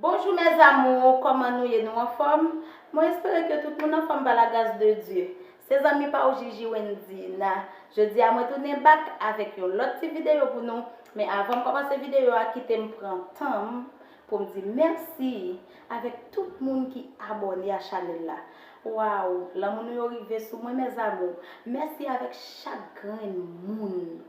Bonjou mes amours koman nou ye nou anfom mwen espere ke tout moun anfom pa la gras de Dye se zanmi pa ou Jiji Wendyy na jodi a mwen tounen back avek yon lot ti video pou nou men avanm komanse video a kitem pran tanm poum di merci avek tout moun ki abone a chanel la waww lanmou nou yo rive sou mwen mes amours merci avek chak grenn moun.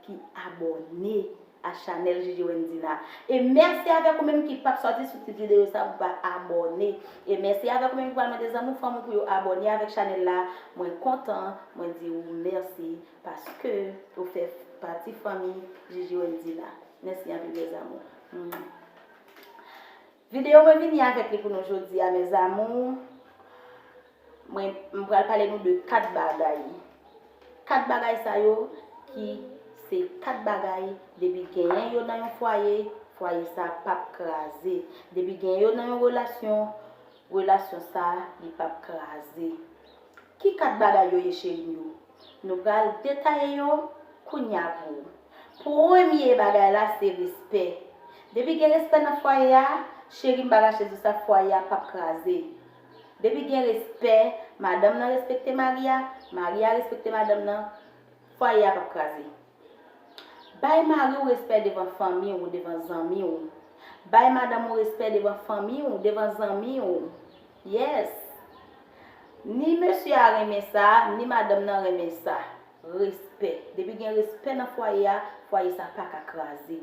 ki abòne a chanèl JJ Wendina e mèsi avèk ou menm ki pap sòti sou ti videyo sa pou pa abòne e mèsi avèk ou menm ki pral mande zanmi ou fanmi ou pou yo abòne avèk chanèl la mwen kontan mwen di ou mèsi paske ou fè pati fanmi JJ Wendina mèsi anpil mes amours. Video mwen vini avek li pou nou jodi a mes amours mwen m pral pale nou de 4 bagay 4 bagay sa yo ki se 4 bagay depi genyen yo nan yon fwaye fwaye sa pap kraze depi genyen yo nan yon relasyon relasyon sa li pap kraze ki 4 bagay yo ye cherim yo nou pral detaye yo kounya pou Premye bagay la se respè. Depi gen respè nan fwaye a, cheri m pa rache di w sa, fwaye a pap kraze. Depi gen respè, madanm nan respekte mari a, mari a respekte madanm nan, fwaye a pap kraze. Bay mari w respè devan fanmi w, devan zanmi w. Bay madanm ou respè devan fanmi w, devan zanmi w. Yes! Ni mesye a renmen sa, ni madanm nan renmen sa. Respè. Depi gen respè nan fwaye a, fwaye sa pa ka kraze.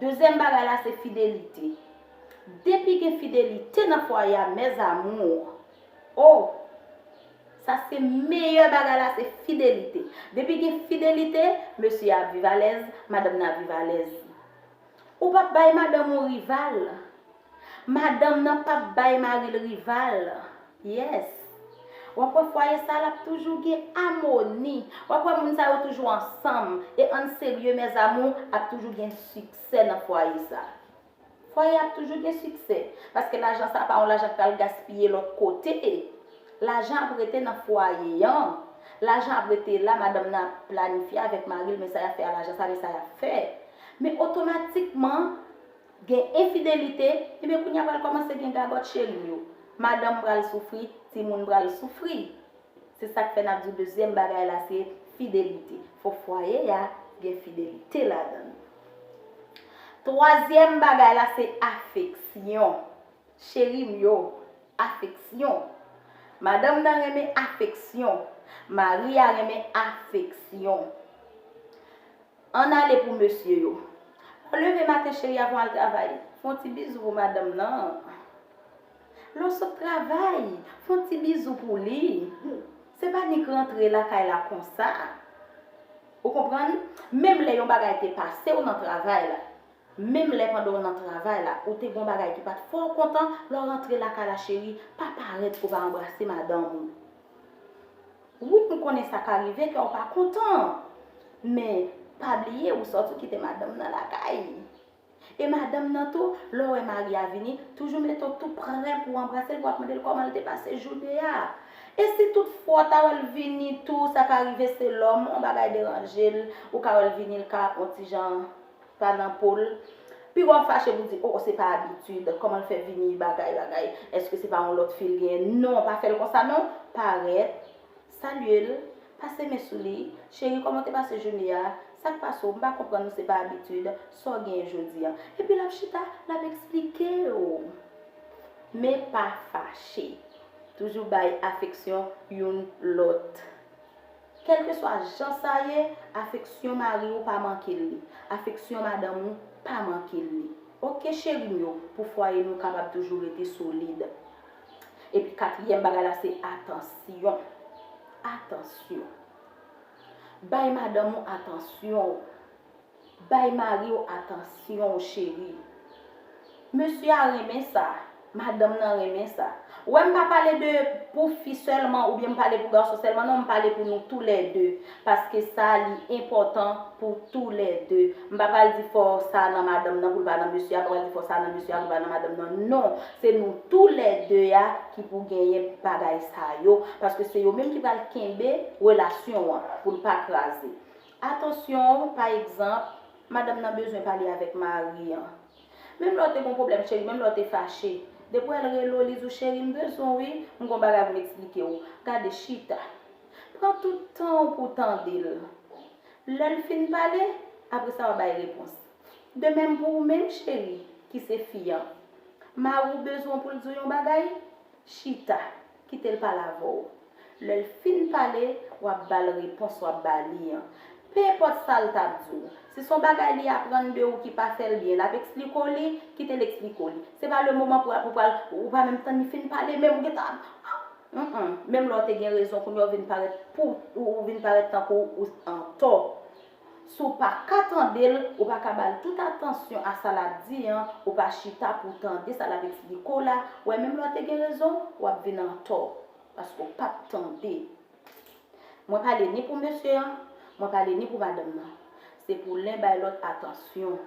Dezyèm bagay la se fidelite. Depi gen fidelite nan fwaye a mes amours, oh! Sa se meyè bagay la se fidelite. Depi gen fidelite, mesye a ap viv alèz, madanm nan ap viv alèz. Ou pap bay madanm ou rival. Madanm nan pap bay maril rival yes wap wè fwaye sa lap toujou gen amoni wap wè moun sa yo toujou ansanm e ann serye mes amour ap toujou gen siksè nan fwaye sa fwaye ap toujou gen siksè paske lajan sa pa yon lajan k pral gaspiye lòt kote lajan ap rete nan fwaye an lajan ap rete la madanm nan ap planifye avèk maril men sa yap fè a lajan sa men sa yap fè men otomatikman Gen enfidelite, enben kounye a pral kòmanse gen gagòt cheri yo. Madanm pral soufri, timoun pral soufri. Se sa k fè n ap di w dezyèm bagay la se fidelite. Fòk fwaye a gen fidelite ladan l. Twazyèm bagay la se afeksyon. Cheri m yo, afeksyon. Madanm nan renmen afeksyon. Mari a renmen afeksyon. Ann ale pou mesye yo. Lè w leve maten cheri avan w al travay, fè yon ti bizou pou madanm nan. Lè w sot travay, fè yon ti bizou pou li. Se pa nik rantre lakay la konsa. Ou konprann? Menm lè yon bagay te pase w nan travay la, menm lè pandan w nan travay la, ou te gen yon bagay ki pa t fè w kontan, lè w rantre lakay la cheri, pa parèt ke w pa anbrase madanm ou. Wi m konnen sa ka rive kè w pa kontan men pa bliye ou sòti ou kite madanm nan lakay e madanm nan tou lè w wè mari a vini toujou mete w tou prè pou w anbrase l pou w ap mande l kòman l te pase joune a e si tout fwa w ta wè l vini tou sa ka rive se lòm on bagay deranje l ou ka wè l vini l ka on ti jan pa nan pol. Pi wap fache pou di oh se pa abitid komanl fè vini bagay bagay eske se pa yon lot fil genyen non pa fèl konsa non parèt salyel pase men sou li cheri koman w te pase joune a sak pase w m pa konprann ou se pa abitid sa w genyen jodi an epi lap chita lap esplike w men pa fache toujou bay afeksyon youn lot. Kèlkeswa jan sa ye, afeksyon mari ou pa manke l li. Afeksyon madanm ou pa manke l li. Ok cheri m yo, pou fwaye nou kapab toujou rete solid. Epi katriyèm bagay la se atansyon. Atansyon. Bay madanm ou atansyon ou. Bay mariw atansyon cheri. Mesye a renmen sa, madanm nan renmen sa. Wè m pa pale de pou fi sèlman oubyen m pale pou gason sèlman non m pale pou nou tou lè 2 paske sa li enpòtan pou tou lè 2 m pa pral di fò sa nan madanm nan poul pa nan mesye a m pa pral di fò sa nan mesye a poul pa nan madanm nan non se nou tou lè 2 a ki pou genyen bagay sa yo paske se yo menm ki pral kenbe relasyon an poul pa kraze Atansyon, pa egzanp, madanm nan bezwen pale avèk mari an. Menm lè w te gon pwoblèm cheri, menm lè w te fache. Depi w al rele w, li di w cheri m bezwen w wi, m gon bagay pou m eksplike w. Gade, chita. Pran tout tan w pou w tande l. Lè l fin pale, apre sa w a bay repons. De menm pou ou menm cheri, ki se fi an. Mari w bezwen w pou l di w yon bagay, Chita, kite l pale avè w. Lè l fin pale, w ap ba l repons w ap ba li an. Penenpòt sa l t ap di w, si s on bagay li aprann de ou ki pa fè l byen, l ap eksplike w li, kite l eksplike w li. Se pa le moman pou ou pral, ou pa menm tann li fin pale menm ou gen tan ap Ap Menm lè w te gen rezon kounye a ou vin parèt pou ou vin parèt tankou ou antò Si w pa ka tande l, ou pa ka ba l tout atansyon a sa l ap di an, ou pa chita pou w tande sa l ap eksplike w la, wè menm lè w te gen rezon, w ap vin antò, paske w pa p tande. Mwen pale ni pou mesye an, mwen pale ni pou madanm nan. Se pou len bay lòt atansyon.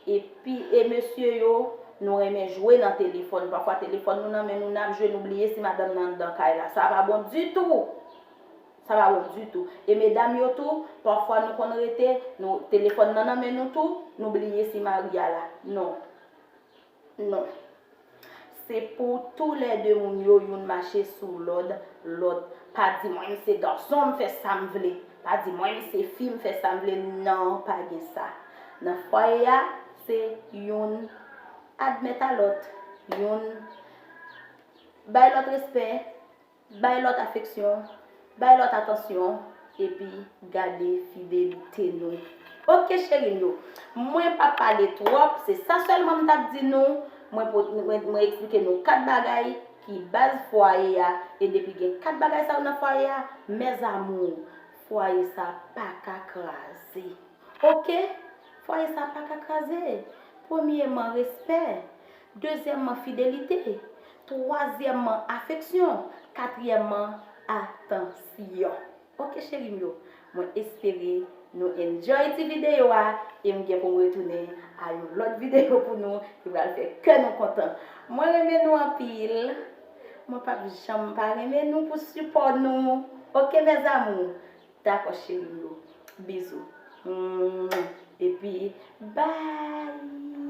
Epi, e mesye yo, nou renmen jwe nan telefòn. Pafwa telefòn nou nan men nou, n ap jwe nou bliye si madanm nan anndan kay la. Sa pa bon ditou! Sa pa bon ditou. E medam yo tou, pafwa nou konn rete, nou, telefòn nan nan men nou tou, nou bliye si mari a la. Non. Non. Se pou tou lè de moun yo youn mache sou lòd lòt. Pa di mwen m se gason m fè sa m vle. Pa di mwen m se fi m fè sa m vle. Non, pa gen sa. Nan fwaye a, se youn admèt a lòt. Youn bay lòt respè. Bay lòt afeksyon, bay lòt atansyon, epi gade fidelite nou. Ok cheri m yo, mwen pa pale twòp, se sa sèlman m t ap di nou, mwen eksplike nou 4 bagay ki baz fwaye a, e depi gen 4 bagay sa yo nan fwaye a, mes amours, fwaye sa pa ka kraze. Ok, fwaye sa pa ka kraze. Premyeman, respè. Dezyèmman, fidelite. Twazyèmman, afeksyon. Katriyèmman, atansyon. Ok cheri m yo, mwen espere nou enjoy ti videyo a e m gen pou m retounen a yon lòt videyo pou nou ki pral fè kè nou kontan. Mwen renmen nou anpil. Mwen p ap janm pa renmen nou pou sipò nou. Ok mes amours? Dakò cheri m yo. Bizou. Epi bye!